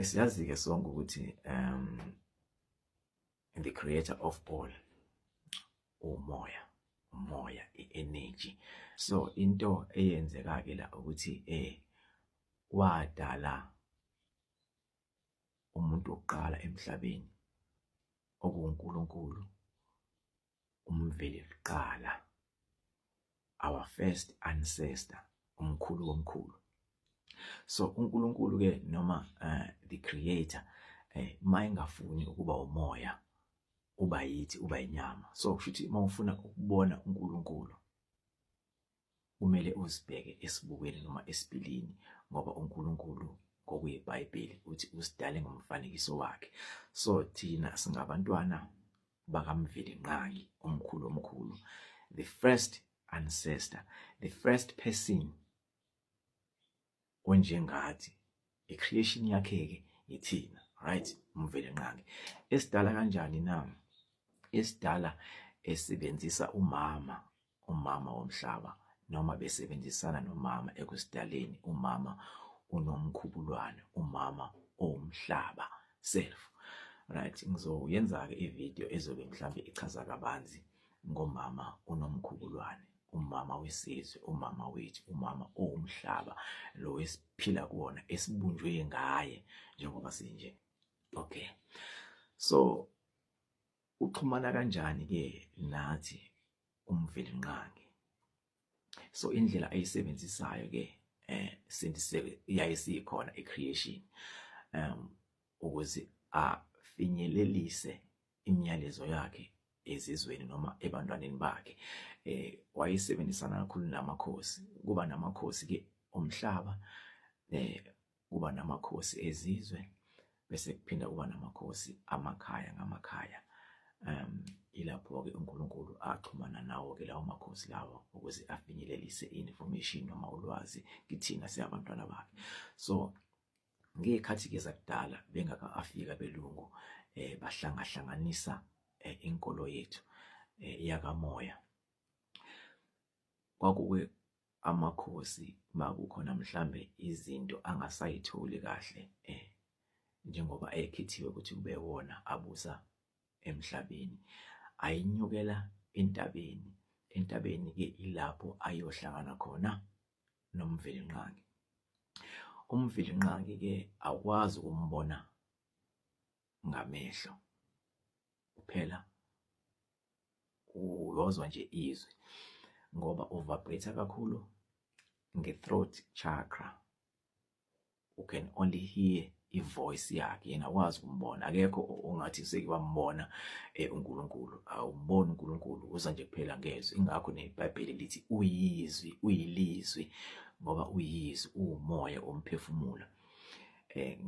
esiyazi-ke sonke ukuthi um the creator of all umoya umoya i-energy so into eyenzeka-ke la ukuthi eh wadala umuntu wokuqala emhlabeni okuwuNkulunkulu umveli kuqala our first ancestor umkhulu womkhulu so uNkulunkulu ke noma uh, the creator eh mayingafuni ukuba umoya uba yithi uba inyama so kushuthi mawufuna ukubona uNkulunkulu Kumele uzibheke esibukweni noma esipilini ngoba uNkulunkulu ngokuyiBhayibheli uthi usidale ngomfanekiso wakhe. So thina singabantwana bakaMvelinqangi omkhulu omkhulu. The first ancestor, the first person onjengathi i-creation yakhe-ke ithina right umvele nqangi esidala kanjani na esidala esebenzisa umama umama womhlaba noma besebenzisana nomama ekusidaleni umama unomkhubulwane umama owumhlaba self right ngizoyenza-ke ividiyo ezobe mhlawumbe ichaza kabanzi ngomama unomkhubulwane umama wesizwe umama wethu umama owumhlaba lo esiphila kuwona esibunjwe ngaye njengoba sinje okay so uxhumana kanjani ke nathi umvelinqangi so indlela ayisebenzisayo ke eh sindise yaye sikhona ecreation um ukuze afinyelelise imiyalezo yakhe ezizweni noma ebantwaneni bakhe eh wayesebenzisana kakhulu namakhosi kuba namakhosi ke omhlaba eh kuba namakhosi ezizwe bese kuphinda kuba namakhosi amakhaya ngamakhaya um ilapho-ke uNkulunkulu axhumana nawo-ke lawo makhosi lawo ukuze afinyelelise i-information noma ulwazi kithina siyabantwana bakhe so ngekhathi ke zakudala bengaka afika belungu eh bahlangahlanganisa eh, inkolo yethu eh, yakamoya kwakuke amakhosi makukhona mhlambe izinto angasayitholi kahle eh njengoba ekhethiwe ukuthi kube wona abusa emhlabeni ayinyukela entabeni entabeni ke ilapho ayohlangana khona noMvelinqangi uMvelinqangi ke awukwazi ukumbona ngamehlo kuphela uyozwa nje izwi ngoba uvibrate kakhulu nge-throat chakra u can only hear ivoice yakhe yena wazi kumbona akekho ongathi seke wambona eh, uNkulunkulu awumboni uNkulunkulu uza nje kuphela ngezwi ingakho neBhayibheli lithi uyizwi uyilizwi ngoba uyizwi uwumoya omphefumulo eh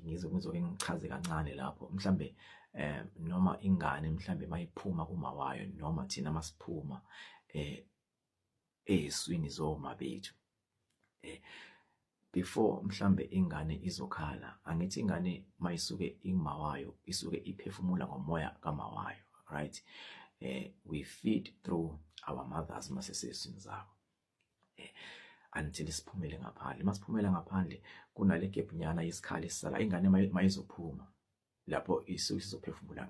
ngizoke ngichaze kancane lapho mhlambe eh noma ingane mhlambe mayiphuma kumawayo noma thina masiphuma eh ezwini zoma bethu eh before mhlambe ingane izokhala angithi ingane mayisuke ingimawayo isuke iphefumula ngomoya kamawayo right eh we feed through our mothers masesesini zabo eh until siphumele ngaphandle masiphumela ngaphandle kunale gap nyana isikhala esisala ingane mayizophuma lapho isuke sizophefumula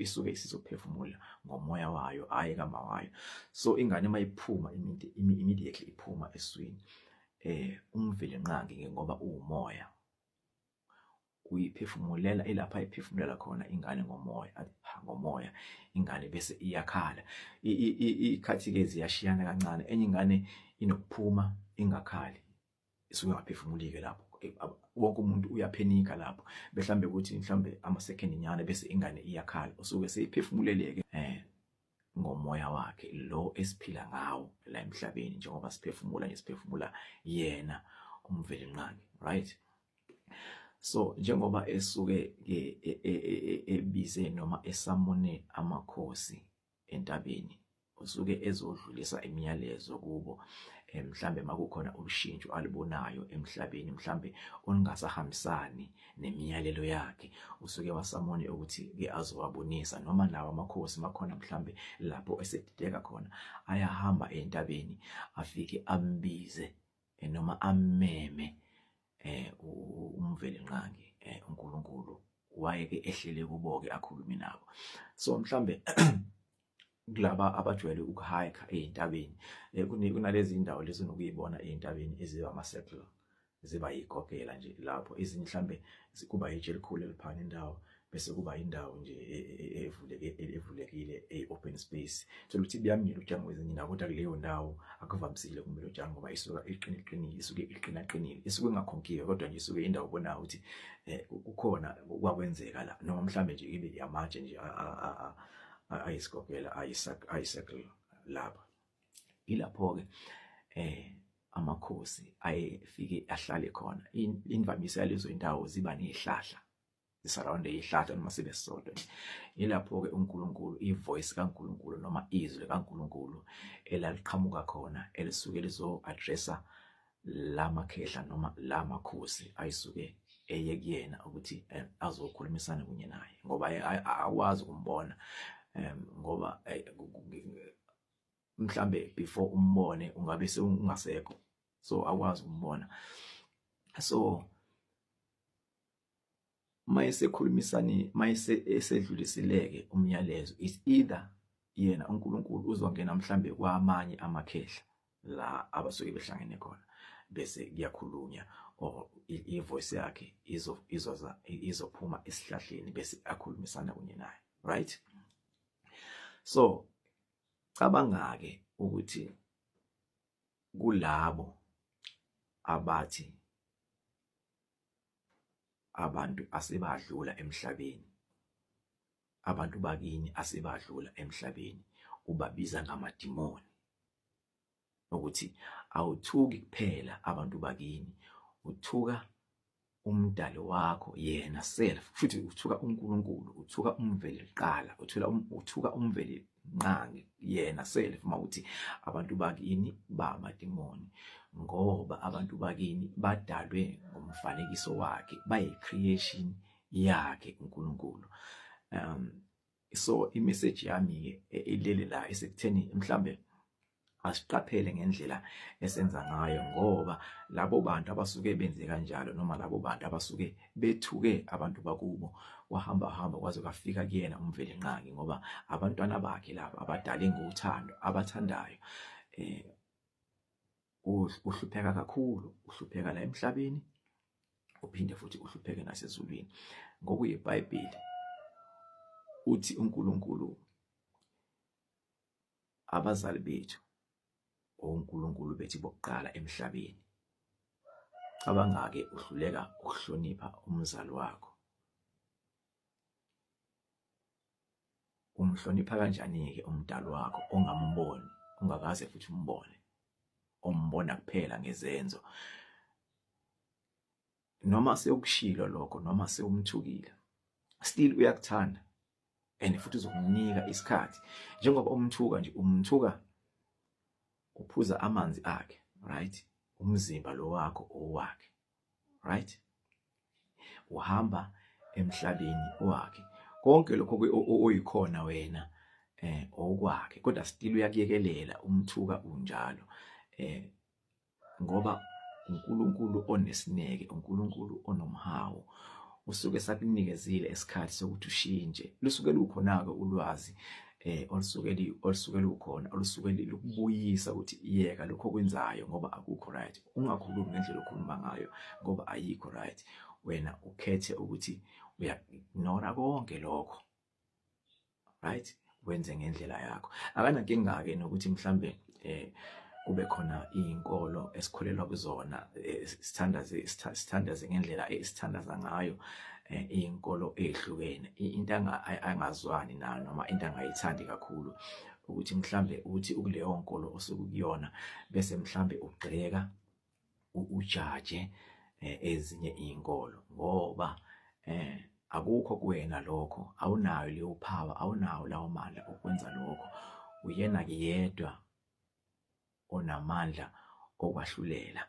isuke isizophefumula ngomoya wayo hayi kama wayo so ingane uma iphuma immediately iphuma eswini eh umvile nqangi ngoba uwumoya uyiphefumulela ilapha iphefumulela khona ingane ngomoya ngomoya ingane bese iyakhala ikhathi ke ziyashiyana kancane enye ingane inokuphuma ingakhali isungaphefumulike lapho wonke umuntu uyaphenika lapho behlambe ukuthi mhlambe ama second nyana bese ingane iyakhala usuke seyiphefumuleleke eh ngomoya wakhe lo esiphila ngawo la emhlabeni njengoba siphefumula nje siphefumula yena umvelinqangi right so njengoba esuke e, e, e, ebize noma esamone amakhosi entabeni usuke ezodlulisa imiyalezo kubo eh, mhlambe makukhona ulushintsho alibonayo emhlabeni mhlambe olungasahambisani nemiyalelo yakhe usuke wasamone ukuthi ke azowabonisa noma nawo amakhosi makhona mhlambe lapho esedideka khona ayahamba entabeni afike ambize eh, noma ameme eh umveli nqangi eh uNkulunkulu wayeke ehlele kuboke akhulume nabo so mhlambe kulaba abajwayele ukuhike ezintabeni eh, kunalezi indawo lezi nokuyibona ezintabeni eziba ama circle ziba yigogela nje lapho izinhlambe kuba yitshe elikhulu eliphana indawo bese kuba indawo nje e, e, e, evuleke evulekile ei open space thola ukuthi buyamila ujango wezinye nako kodwa kuleyo ndawo akuvamisile kumele ujango ngoba isuka iqine iqinile isuke iqina qinile isuke engakhonkiwe kodwa nje isuke indawo bona ukuthi eh, kukhona kwakwenzeka la noma mhlambe nje ibe yamatshe nje ayisikokela ayisakela lapha ilapho ke eh amakhosi ayefike ahlale khona imvamisa yalezo indawo ziba nezihlahla isurround eyihlahle noma sibe sisodwa yilapho-ke unkulunkulu ivoice kankulunkulu noma izwi likankulunkulu elaliqhamuka khona elisuke lizo-addressa la makhehla noma la makhosi ayisuke eye kuyena ukuthi eh, azokhulumisana kunye naye ngoba akwazi ukumbona ngoba eh, mhlambe before umbone ungabe seungasekho so akwazi ukumbona so mayesekhulumisani mayese esedlulisileke umyalezo is either yena uNkulunkulu uzongena mhlambe kwamanye amakhehla la abasuke behlangene khona bese kuyakhulunya or ivoice yakhe izo izoza izophuma esihlahleni bese akhulumisana kunye naye right so cabanga ke ukuthi kulabo abathi abantu asebadlula emhlabeni abantu bakini asebadlula emhlabeni ubabiza ngamadimoni ukuthi awuthuki kuphela abantu bakini uthuka umdali wakho yena self futhi uthuka uNkulunkulu uthuka umveli liqala uthula um, uthuka umveli nqangi yena self mawuthi abantu bakini bamadimoni ngoba abantu bakini badalwe ngomfanekiso wakhe bayi creation yakhe uNkulunkulu um so i message yami ke e, ilele la isekutheni mhlambe asiqaphele ngendlela esenza ngayo ngoba labo bantu abasuke benze kanjalo noma labo bantu abasuke bethuke abantu bakubo wahamba hamba kwaze kwafika kuyena umvelinqangi ngoba abantwana bakhe laba abadale ngothando abathandayo eh uhlupheka kakhulu uhlupheka la emhlabeni uphinde futhi uhlupheke nasezulwini ngokuyiBhayibheli uthi uNkulunkulu abazali bethu onkulunkulu bethu bokuqala emhlabeni cabangake uhluleka ukuhlonipha umzali wakho umhlonipha kanjani-ke umdali wakho ongamboni ungakaze futhi umbone ombona kuphela ngezenzo noma sewukushilo lokho noma sewumthukile still uyakuthanda and futhi uzokunika isikhathi njengoba umthuka nje umthuka uphuza amanzi akhe right umzimba lo wakho owakhe right uhamba emhlabeni wakhe konke lokho oyikhona wena eh okwakhe kodwa still uyakuyekelela umthuka unjalo eh ngoba uNkulunkulu onesineke uNkulunkulu onomhawu usuke sakunikezile isikhathi sokuthi ushintshe lusuke lukhona-ke ulwazi eh olusuke olusuke lukhona olusuke lukubuyisa ukuthi yeka lokho okwenzayo ngoba akukho right ungakhulumi ngendlela okhuluma ngayo ngoba ayikho right wena ukhethe ukuthi uya-ignore konke lokho right wenze ngendlela yakho akanankinga ke nokuthi mhlambe eh kube khona izinkolo esikholelwa kuzona eh, sithandaze sithandaze ngendlela esithandaza ngayo eh, izinkolo ezihlukene into angazwani nayo noma into angayithandi kakhulu ukuthi mhlambe uthi ukuleyo nkolo osuku kuyona bese mhlambe ugxeka ujaje eh, ezinye izinkolo ngoba eh akukho kuwena lokho awunayo leyo power awunawo lawo mandla okwenza lokho uyena ke yedwa onamandla okwahlulela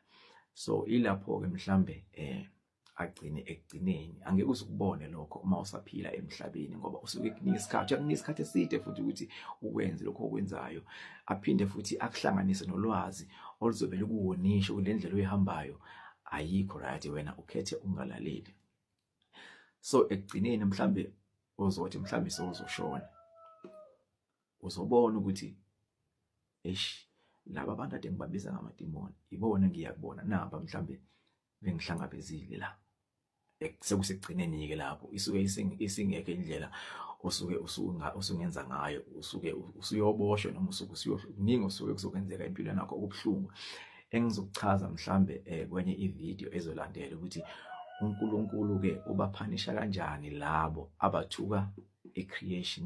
so ilapho ke mhlambe eh agcine ekugcineni angeke uzukubone lokho uma usaphila emhlabeni ngoba usuke kunika isikhathi akunika isikhathi eside futhi ukuthi ukwenze lokho okwenzayo aphinde futhi akuhlanganise nolwazi oluzobe lukuwonisha kule ndlela oyihambayo ayikho right wena ukhethe ungalaleli so ekugcineni mhlambe ozothi mhlambe sozoshona uzobona ukuthi eish laba bantu ade ngibabiza ngamadimoni ibona ngiyakubona naba mhlambe bengihlangabezile la sekusekugcineni ke lapho isuke isingekho indlela osuke usunga usungenza ngayo usuke usuyoboshwa noma usuke usuyokuningi osuke kuzokwenzeka empilweni yakho okubuhlungu engizokuchaza mhlambe eh, kwenye ivideo ezolandela ukuthi uNkulunkulu ke ubaphanisha kanjani labo abathuka ecreation